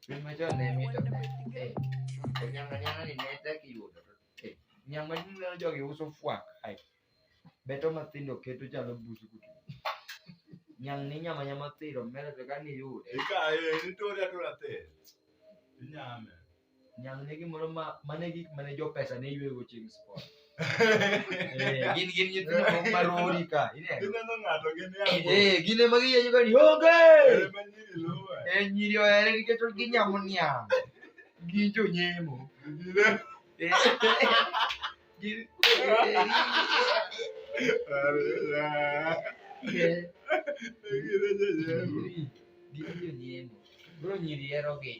Piny machon ne mito ne. Eh, to nyanga nyanga ni ne tek yudo. Eh, nyanga ni ne jogi uso fwak. Ai. Beto mathindo keto chalo busu kutu. Nyang ni nyama nyama thiro mere to kani yude. Ikaye, nitore atora te. Inyame. nyalo ne gimoro ma mane gik mane jo pesa ne yuego chieng' sport Eh, gin gin nyithindo moko ma rori ka ineno Gineno ng'ato gin e agwela. Eh, gin ema giyenyo ka ni onge Ere ma nyiri luwe. Eh, nyiri ohere nikech ginyamo niang' gin jonyemo Gine- Eh, gin Are- eh, Gine jonyemo. gin jonyemo Bro nyiri hero gi.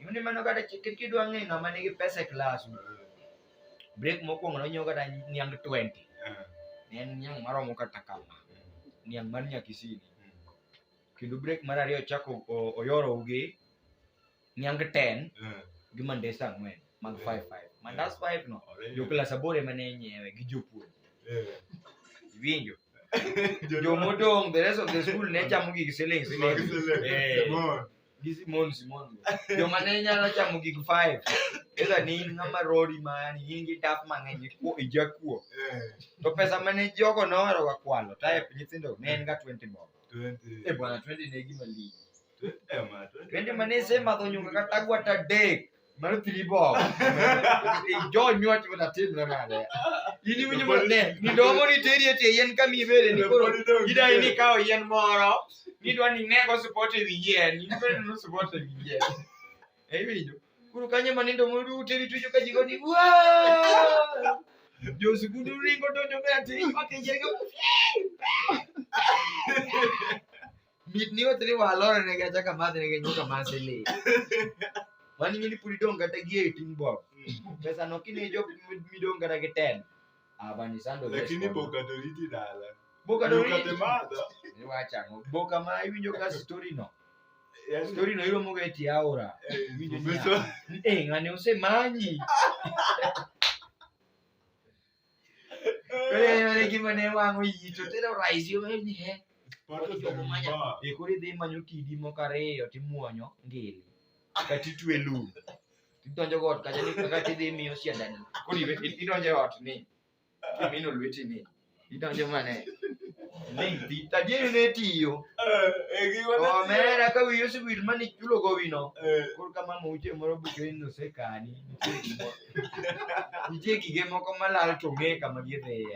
Yuni mano kata chikir kidwa ng'e ng'ama nigi pesa e klas. Break mokwongo nonyiewo kata niang 20. Ne en niang maromo kata kama. Niang mar Nyakisini. Kendo break mar ariyo chako oyoro ugi. niang 10 Eh, gi mandes ang'wen mag Eh. 5 5 mandas 5 no already. jokla sabore mane nyiewe gi jopuonj Eh, winjo jo- jomodong the rest of the school ne chamo gig siling Mag siling select. Eh. Simon. gi simon simon joma ne nyalo chamo gig 5 eza ni in ng'ama rori mani in gi daf mang'eny ikuo ijakuo Eh, to pesa mane jogo nohero ga kwalo type nyithindo ne en ga 20 bob 20. e bwana 20 ne gima lich Twende mane sema to nyuka katagwa ta dek. Mano three bob. Jo nywach wata tim na nade. Ini winyo mo ne. Ni domo ni teri ete yen ka mi bere ni koro. Ida ini kao yen moro. Ni dwa ni nego support e yen. Ni bere no support e yen. Eh winyo. Kuru kanye mane domo du teri tujo ka jigo ni. Wow! Jo sukudu ringo donjo me ati. Okay, jerigo. Mit ni watu ni walora na gacha kama na genyo kama sele. Wani mimi pulidong kata gie itin bob. Pesa no kine jo midong kata ke 10. Abani sando. Lakini boka doriti dala. Boka doriti. Ni wacha ngo. Boka ma iwinjo ka story no. Yes. Story no ilo moga eti aura. Eh, ngani usemanyi. Ore gima ne wang'o iyi to tero raisi yo ni he. Pato Jogo manya. Jomba. E koro idhi manyo kidi moko ariyo timuonyo ngili. Kati twe lum. Tidonjo got kacha ni kaka tidhi miyo siadani. Koro iwe- i- idonjo e ot ni. Imino lweti ni. Idonjo mane. Ling ti. Tadieri ne tiyo. Eh, eh, gima ne- Omera ka wiyo sibir mani chulo go wino. Eh, Koro kama mauche moro buke ni osekani. Nitie gimoro. Nitie gige moko malal to ong'e kama gidhiye.